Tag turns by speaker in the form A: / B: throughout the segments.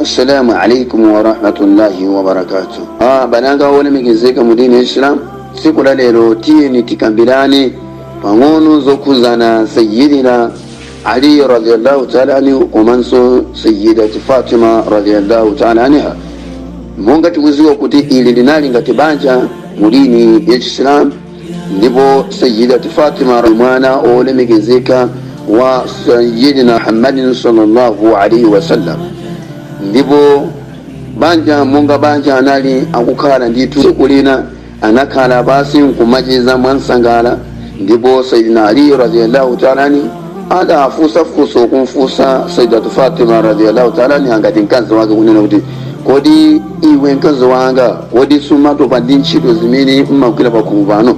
A: assalamu alaikum warahmatullahi wabarakatu ah, abale anga olemekezeka mu dini ya islam tsiku la lero tiyeni tikambirane pang'ono zokhuzana sayidina ali radiallahu taala anhu komanso sayidati fatima radiallahu taala anha monga tikuziwa kuti ili linali ngati banja mu dini ya islamu ndipo sayidati fatima mwana olemekezeka wa sayidina muhammadin sallallahu alaihi wasallam ndipo banja monga banja anali akukhala ndithu tsiku lina anakhala pasi nkumacheza mwansangala ndipo sayidina ali radiallahu taala anhu adafunsa funso kumfunsa saidatu fatima radiallahu taala anha ngati mkazi wake kunena kuti kodi iwe mkazi wanga kodi sumatopa ndi ntchito zimene umagwira pakhomo pano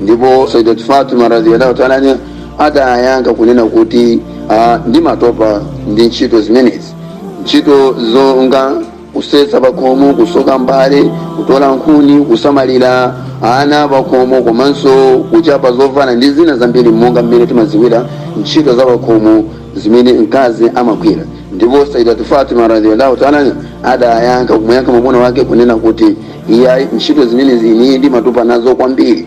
A: ndipo saidatu fatima radiallahu taala anha adayankha kunena kuti ah, ndimatopa ndi ntchito zimenezi ntchito zonga kusesa pakhomo kutsuka mbale kutola nkhuni kusamalira ana pakhomo komanso kuchapa zovala ndi zina zambiri monga mmene timaziwira ntchito za pakhomo zimene mkazi amagwira ndipo saidatu fatima radhiallahu taala adayankha kumuyankha mwamuna wake kunena kuti iyayi ntchito zimenezi ine ndimatopa nazo kwambiri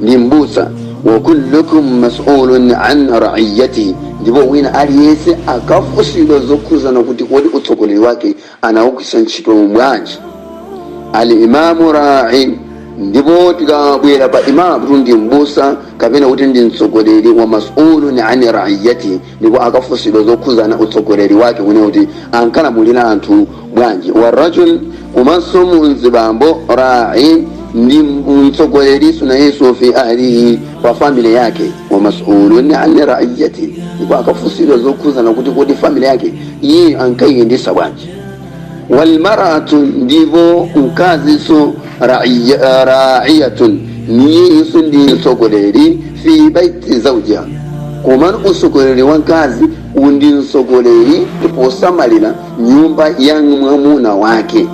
A: ndi mbusa wa kullukum masulun an raiyatihi ndipo wina aliyense akafunsidwa zokhuzana kuti kodi utsogoleri wake anawugwiritsa ntchito bwanji al imamu rai ndipo tikabwera pa imamu kuti ndi mbusa kapena kuti ndi mtsogoleri wa masulun an raiyatihi ndipo akafunsidwa zokhuzana utsogoleri wake kunena kuti ankalamulira anthu bwanji wa rajul komanso mzibambo rai ndi mtsogoleri so nayeso fi ahlihi pa family yake wa masulun an raiyati ndipo akafunsidwa zokhuzana kuti kodi family yake iye ankayiyendesa bwanji walmaratu ndipo mkaziso raiyatun nayeso ndi mtsogoleri fi baiti zaujiha komano utsogoleri wa mkazi ndi utsogoleri posamalira nyumba ya mwamuna wake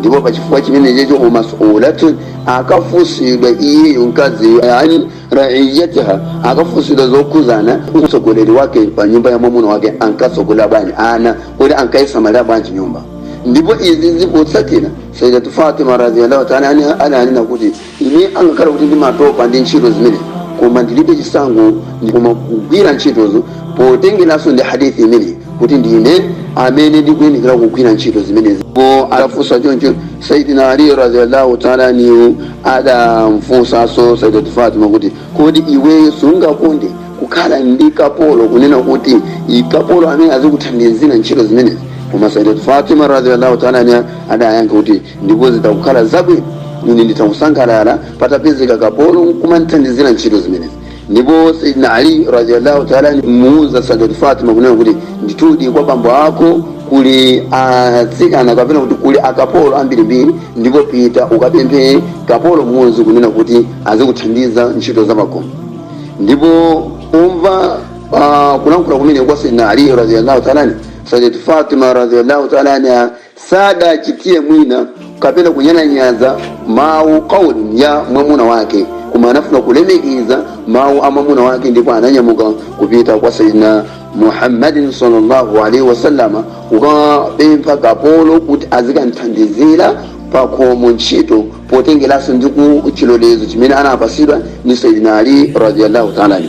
A: ndipo pachifukwa chimenechecho wa masulatun akafunsidwa iyeyo mkazi an raiyatiha akafunsidwa zokhuzana utsogoleri wake pa nyumba ya mwamuna wake ankatsogolera bwanji ana kuti ankayisamalira bwanji nyumba ndipo izi zikutsatira saidatu fatima radhiallahu taala anha ananena kuti ine angakhale kuti ndimatopa ndi ntchito zimene koma ndilibe chisankho koma kugwira ntchitozo potengeranso ndi hadithi imeneyi kuti ndine amene ndikuyenekera kugwira ntchito zimenezi ndipo adafunsa choncho saidina ali radhiallahu taala anhu adamfunsanso saidati fatima kuti kodi iweyo sungakonde kukhala ndi kapolo kunena kuti i- kapolo amene azikuthandizira ntchito zimenezi koma saidati fatima radhiallahu taala anha adayankha kuti ndipo zitakukhala zabwino ine nditakusangalala patapezeka kapolo nkumandithandizira ntchito zimenezi ndipo sayidina ali radiallahu taala anhu adamuuza sadati fatima kunena kuti ndithudi kwa bambo ako kuli atsikana kapena kuti kuli akapolo ambirimbiri ndipo pita ukapemphe kapolo mmodzi kunena kuti azikuthandiza ntchito za pakhomo ndipo pomva ah, kulankhula kumene kwa sayidina ali radiallahu taala anhu sadati fatima radiallahu taala anha sadachitire mwina kapena kunyalanyaza mawu kauli ya mwamuna wake koma anafuna kulemekeza mawu a mwamuna wake ndipo ananyamuka kupita kwa sayidina muhammadin sallallahu alaihi wasallama kukapempha kapolo kuti azikamthandizira pakhomo ntchito potengeranso ndi ku chilolezo chimene anapasidwa ndi sayidina ali radiallahu taala anhu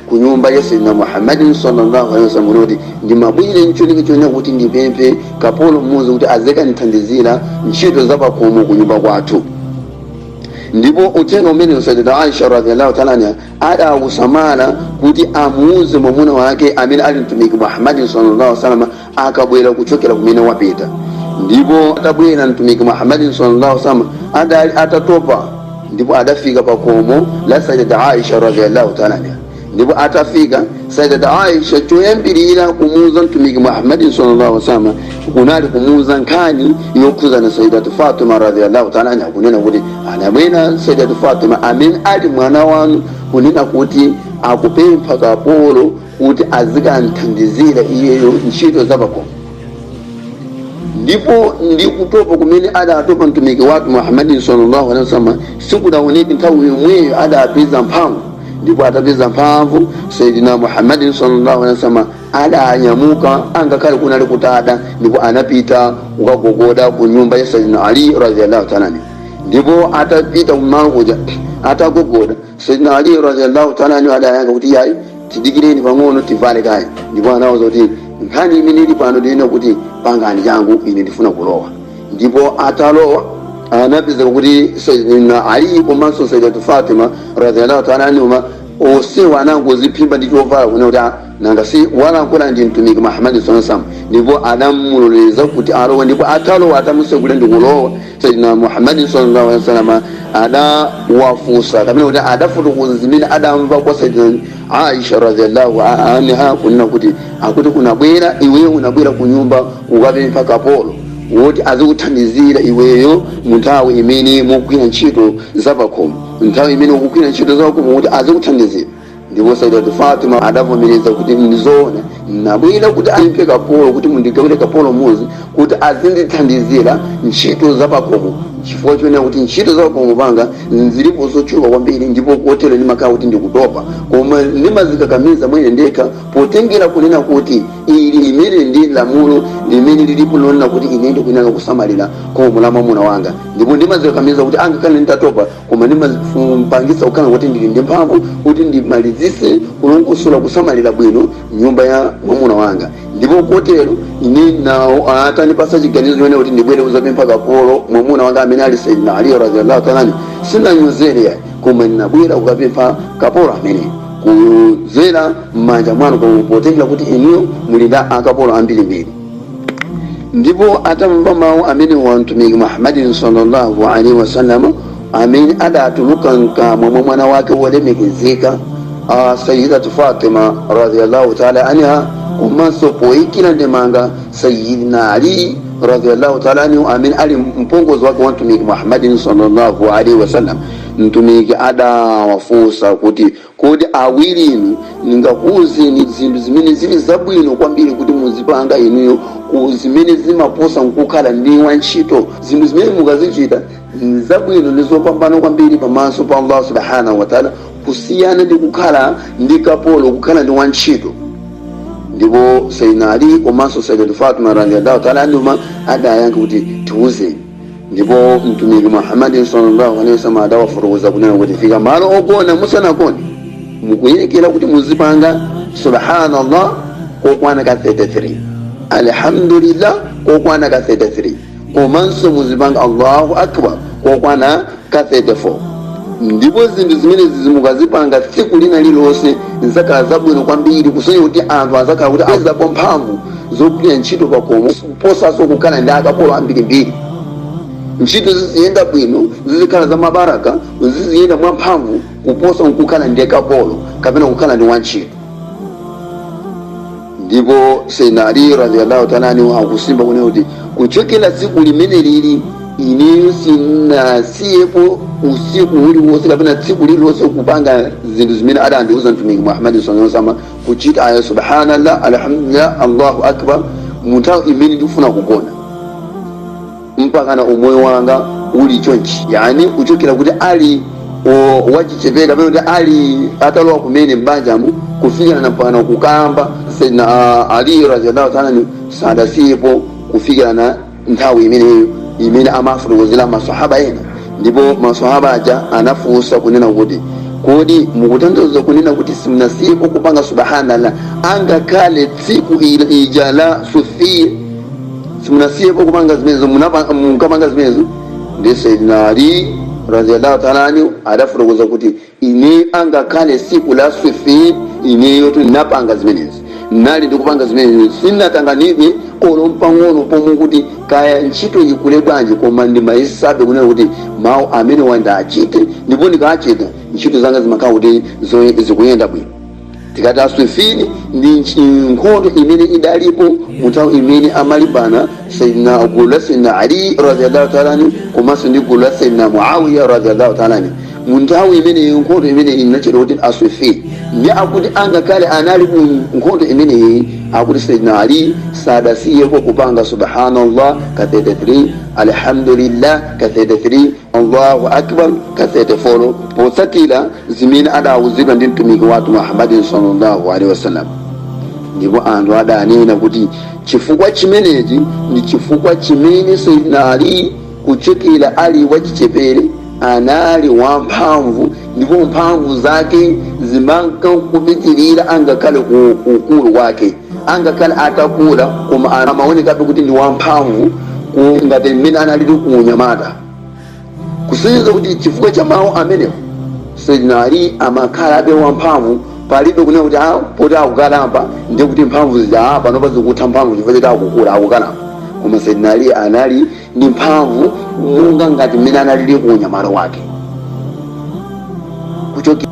A: ku nyumba ya sayyidina muhammadin sallallahu alaihi wasallam kunena kuti ndimabwera ncholinga chonena kuti ndipemphe kapolo mmodzi kuti azikandithandizira ntchito zapakhomo ku nyumba kwathu ndipo uthenga umene sayyidat aisha radhiallahu taala anha adawusamala kuti amuuze mwamuna wake amene ali mtumiki muhammadin sallallahu alaihi wasallam akabwera kuchokera kumene wapita ndipo atabwera mtumiki muhammadin sallallahu alaihi wasallam adali atatopa ndipo adafika pa khomo la sayyidat aisha radhiyallahu ta'ala anha ndipo atafika sayyidat aisha choyambirira kumuuza mtumiki muhammadin sallallahu alaihi wasallam kunali kumuuza nkhani yokhudzana ndi sayyidat fatima radhiyallahu ta'ala anha kunena kuti anabwera sayyidat fatima amene ali mwana wanu kunena kuti akupempha kapolo kuti azikamthandizira iyeyo ntchito zapakhomo ndipo ndi kutopa kumene adatopa mtumiki wathu muhammadin sallallahu alaihi wasallam sikudaoneke nthawi yomweyo adapeza mphamvu ndipo atapeza mphamvu sayidina muhammadin sallallahu alaihi wasallam adanyamuka angakhale kunali kutada ndipo anapita kukagogoda ku nyumba ya sayidina ali radhiallahu taala anhu ndipo atapita kumalo kuja atagogoda Sayyidina Ali radhiyallahu ta'ala anhu adayankha kuti yayi tidikireni pang'ono tivale kaye ndipo anawauza kuti nkhani imene ili pano ndi yonena kuti pangani changu ine ndifuna kulowa ndipo atalowa anapeza kuti Sayyidina Ali komanso Sayyidatu Fatima radhiyallahu ta'ala anhuma onsewa anangoziphimba ndi chovala kunena kuti "Ah, nanga si walankhula ndi mtumiki Muhammad sallallahu alaihi wasallam ndipo adamuloleza kuti alowe ndipo atalowa atamutsekulira ndi kulowa sayidina muhammadin sallallahu alaihi wasallam adawafunsa kapena kuti adafotokoza zimene adamva kwa sayidina aisha radhiallahu anha kunena kuti akuti unabwera iweyo unabwera ku nyumba kukapempha kapolo woti azikuthandizira iweyo mu nthawi imene ukugwira ntchito zapakhomo nthawi imene ukugwira ntchito zapakhomo kuti azikuthandizira ndipo saidatu fatima adavomereza kuti ndizoona nabwera kuti ndipemphe kapolo kuti mundigawire kapolo mmodzi kuti azindithandizira ntchito zapakhomo chifukwa chonena kuti ntchito zapakhomo panga zilipo zochuluka kwambiri ndipo kotero ndimakhala kuti ndikutopa koma ndimazikakamiza mwene ndekha potengera kunena kuti ili limeneli ndi lamulo limene lilipo lonena kuti ine ndikuyenera kusamalira khomo la mwamuna wanga ndipo ndimazikakamiza kuti angakhale nditatopa koma ndimazipangitsa kukhala kuti ndili ndi mphamvu kuti ndimalizise kulongosola kusamalira bwino nyumba ya mwamuna wanga ndipo kotero ine nawo atandipasa chiganizo chonena kuti ndibwere kuzapempha kapolo mwamuna wanga amene ali sayyidina ali radhiyallahu ta'ala anhu sinanyozere yayi koma ndinabwera kukapempha kapolo amene kuzera m'manja mwanu potengera kuti inuyo muli ndi akapolo ambirimbiri ndipo atamva mawu amenewa mtumiki muhammadin sallallahu alaihi wasallam amene adatuluka mkamwa mwa mwana wake wolemekezeka sayidatu fatima radiallahu taala anha komanso poyikira ndemanga sayidina ali radiallahu taala anhu amene ali mpongozi wake wa mtumiki muhammadin sallallahu alaihi wasallam mtumiki adawafunsa kuti Kodi awirinu ndingakuuzeni zinthu zimene zili zabwino kwambiri kuti muzipanga inuyo zimene zimaposa ndi kukhala ndi wantchito? Zinthu zimene mukazichita zabwino ndi zopambana kwambiri pamaso pa Allah subhanahu wa ta'ala kusiyana ndi kukhala ndi kapolo, kukhala ndi wantchito. Ndipo Sayyidina Ali komanso Sayyidatu Fatima radhiyallahu ta'ala anhuma adayankha kuti, Tiuzeni. ndipo mtumiki muhammadin sallallahu alaihi wasallam adawafotokoza kunena kuti mukafika malo ogona musanagone mukuyenekera kuti muzipanga subhanallah kokwana ka 33 alhamdulillah kokwana ka 33 komanso muzipanga allahu akbar kokwana ka 34 ndipo zinthu zimenezi mukazipanga tsiku lina lililonse zidzakhala zabwino kwambiri kusonya kuti anthu azakhala kuti azapeza mphamvu zogwira ntchito pakhomo kuposanso kukhala ndi akapolo ambirimbiri ntchito ziziyenda bwino zizikhala za mabaraka ziziyenda mwa mphamvu kuposa kukhala ndi kapolo kapena kukhala ndi wantchito ndipo sayyidina ali radiyallahu ta'ala anhu akusimba kunena kuti kuchokera tsiku limeneli ineyo sinasiyepo usiku uliwonse kapena tsiku lililonse kupanga zinthu zimene adandiuza mtumiki muhammadi sallallahu alaihi wasallam kuchita aya subhanallah alhamdulillah allahu akbar munthawi imene ndikufuna kugona mpakana umoyo wanga uli chonchi yani kuchokera kuti ali o- wachichepere kapena kuti ali atalowa kumene m'banjamo kufikira na mpakana kukamba sayyidina ali radiyallahu ta'ala anhu sadasiyepo kufikira na nthawi imeneyo imene amafotokozera masahaba ena ndipo masahaba aja anafunsa kunena kuti kodi mukutanthauza kunena kuti simunasiyepo kupanga subhanallah angakhale tsiku ila- lija la siffin simunasiyepo kupanga zimenezo munapa- munkapanga zimenezo ndi sayidina ali radiallahu taala anhu adafotokoza kuti ine angakhale tsiku la siffin ineyo ndinapanga zimenezi ndinali ndikupanga zimenezi sinatanganidwe olo mpang'ono pomwe kuti kaya ntchito ikule bwanji koma ndimayesabe kunena kuti mawu amene wandachite ndipo ndikachita ntchito zanga zimakhala kuti zoye- zikuyenda bwino tikati siffin ndi nchi- nkhondo imene idalipo mu nthawi imene amalimbana sayidina gulu la sayidina ali radiallahu taala anhu komanso ndi gulu la sayidina muawiya radiallahu taala anhu mu nthawi imeneyi nkhondo imeneyi inatchedwa kuti siffin ndi akuti angakhale anali mu nkhondo imeneyi akuti sayidina ali sadasiyeko kupanga subhanallah ka 33 alhamdulillah ka 33 allahu akbar ka 34 potsatira zimene adawuzidwa ndi mtumiki wathu muhammadin sallallahu alaihi wasallam ndipo anthu adanena kuti chifukwa chimenechi ndi chifukwa chimene sayidina ali kuchokera ali wachichepere anali wamphamvu ndipo mphamvu zake zimankapitirira angakhale ku ukulu wake angakhale atakula koma amaonekabe kuti ndi wamphamvu ku- ngati mmene analili ku unyamata kusonyeza kuti chifukwa cha mawu amenewo sayyidina ali amakhalabe wamphamvu palibe kunena kuti ah poti akukalamba ndiye kuti mphamvu zija ah panopa zikutha mphamvu chifukwa choti akukula akukalamba koma sayyidina ali anali ndi mphamvu monga ngati mmene analili ku unyamata wake kuchokera